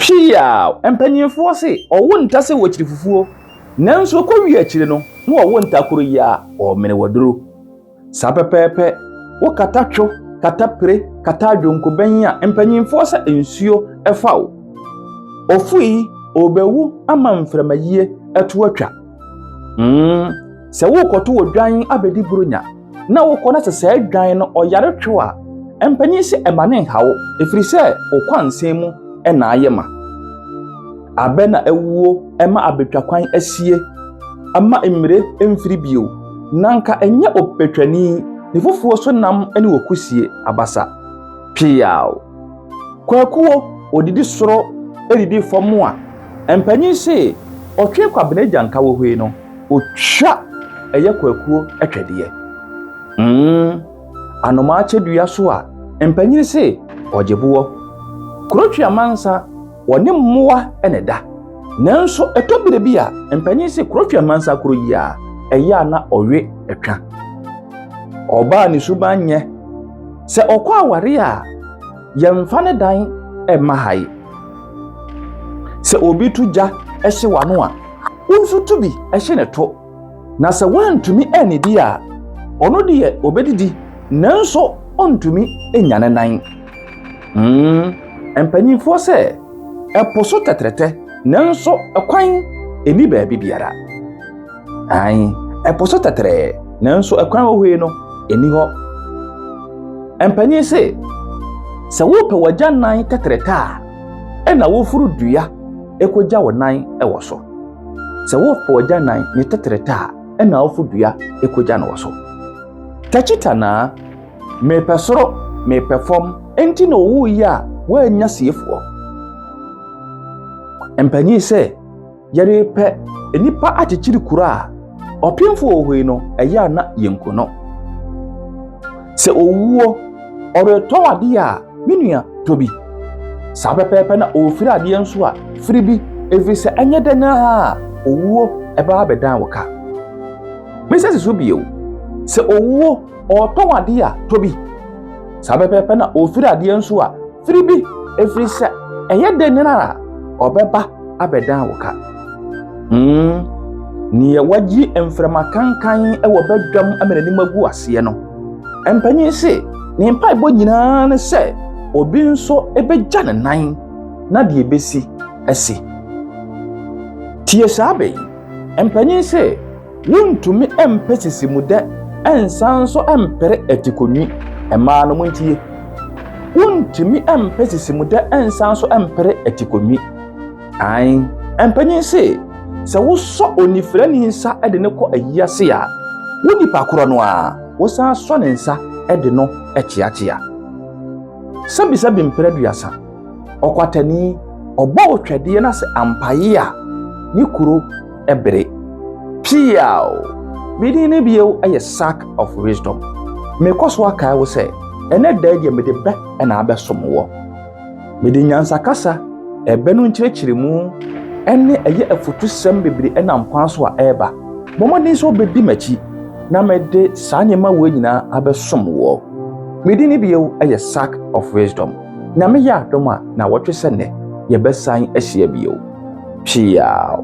Piaw! Mpanimfoɔ se ɔwo nta sɛ wɔ kyiri fufuo, nanso ɛkɔ wie akyire no na wɔwo nta koro yi a ɔmene wɔ duro. Saa pɛpɛɛpɛ, wo kata two, kata pire, kata adwonko bɛn a mpanimfoɔ sɛ nsuo ɛfa wo. Ɔfo yi ɔbɛwu ama mframayie ɛto atwa. Mmm, sɛ worekɔto odwan abɛdi Buronya. na wokɔ na sɛ saa dwan no ɔyare two a, mpanyin sɛ ɛma ne nhaw ɛfiri sɛ wo kwansɛn mu na ayɛ ma. Abɛ na awuo ɛma abɛtwa kwan asie ama mmire mfiri bio, na nka ɛnyɛ ɔbɛtwani ne fufuo so nam ne wɔ kusie abasa. Peaw! Kwakuo ɔdidi soro ɛdidi fam a, mpanyin se ɔtwe kwabena agya nka wɔ hwei no. Otwa ɛyɛ kwakuo twɛdeɛ. Mm, anomaa kyɛ dua so a mpanyini se ɔgye boɔ. Kurotwe amansa wɔne mmoa na ɛda. Nanso ɛtɔ berɛ bi a mpanyini se kurotwe amansa koro yi a ɛyɛ a na ɔwe twa. Ɔbaa ne suban nyɛ sɛ ɔkɔ aware a yɛmfa ne dan mma ha yi. Sɛ obi to gya hye w'ano a Wo nso tu bi hye no to, na sɛ woantumi annidi a, ɔno deɛ ɔbɛdidi nanso ɔntumi nnya ne nan. Hmm, mpanimfoɔ sɛ, Ɛpo so tɛtrɛtɛ nanso kwan nni baabi biara. Ae, ɛpo so tɛtrɛɛ nanso kwan wɔ hɔ yi no nni hɔ. Mpanyin se, Sɛ wopɛ w'agya nan tɛtrɛtɛ a, ɛna woforo dua kogya wo nan wɔ so. Sɛ wopo ɔgya nan ne tetrete a, ɛna wofo dua kogya no wɔ so. Takyi tanaa, mepɛ soro, mepɛ fam, enti na ɔwoo yi a woannya siefoɔ. Mpanyin sɛ. Yɛrepɛ nnipa akyekyere kuro a ɔpemfo wɔ hɔ yi no, ɛyɛ a na yɛnku no. Sɛ owuo, ɔretɔ adeɛ a, me nua tɔ bi. Saa pɛpɛɛpɛ na ɔrefiri adeɛ nso a, firi bi, ɛfiri sɛ ɛnyɛ dɛn ara a owuo ɛbɛba abɛdan wo ka. Mesɛ si so bio, sɛ owuo, ɔretɔ adeɛ a, tɔ bi. Saa pɛpɛɛpɛ na ɔrefiri adeɛ nso a, firi bi, ɛfiri sɛ ɛyɛ dɛn a ɔbɛba abɛdan wo ka. Hmm, neɛ wagye mframa kankan wɔ badwam ama n'anim agu aseɛ no, mpanyin se ne mpaebɔ nyinaa ne sɛ obi nso bɛgya ne nan na deɛ ɛbɛsi asi. Tie saa bɛ yi, mpanyin se Wontumi mpe sisimudɛ nsan nso mpere atikonwi. Mmaa no, montie. Wontumi mpe sisimudɛ nsan nso mpere atikonwi. Ae, mpanyin se, sɛ wosɔ onifirani nsa de no kɔ ayi ase a, wo nipa korɔ no ara, wosan sɔ ne nsa de no kyeakyea. Sɛbisɛbi mpere aduasa. Ɔkwatani, ɔbɔ otwadeɛ na sɛ ampaye a, ne kuro, bere. Piaw! Me din no bio yɛ Sack of Wisdom. Mekɔ so akae wo sɛ, ɛnɛ da yi deɛ mede bɛ na abɛsom wɔ. Mede nyansakasa, ɛbɛ no nkyerɛkyerɛmu, ne ɛyɛ afutusɛm bebree nam kwan so a ɛreba. Bɔ mmɔden sɛ wobɛdi m'akyi na mede saa nneɛma wei nyinaa abɛsom wɔ. Me din no bio yɛ Sack of Wisdom. Nyame yɛ adom a, na wɔtwe sɛ nnɛ yɛbɛsan ahyia bio. Piaw!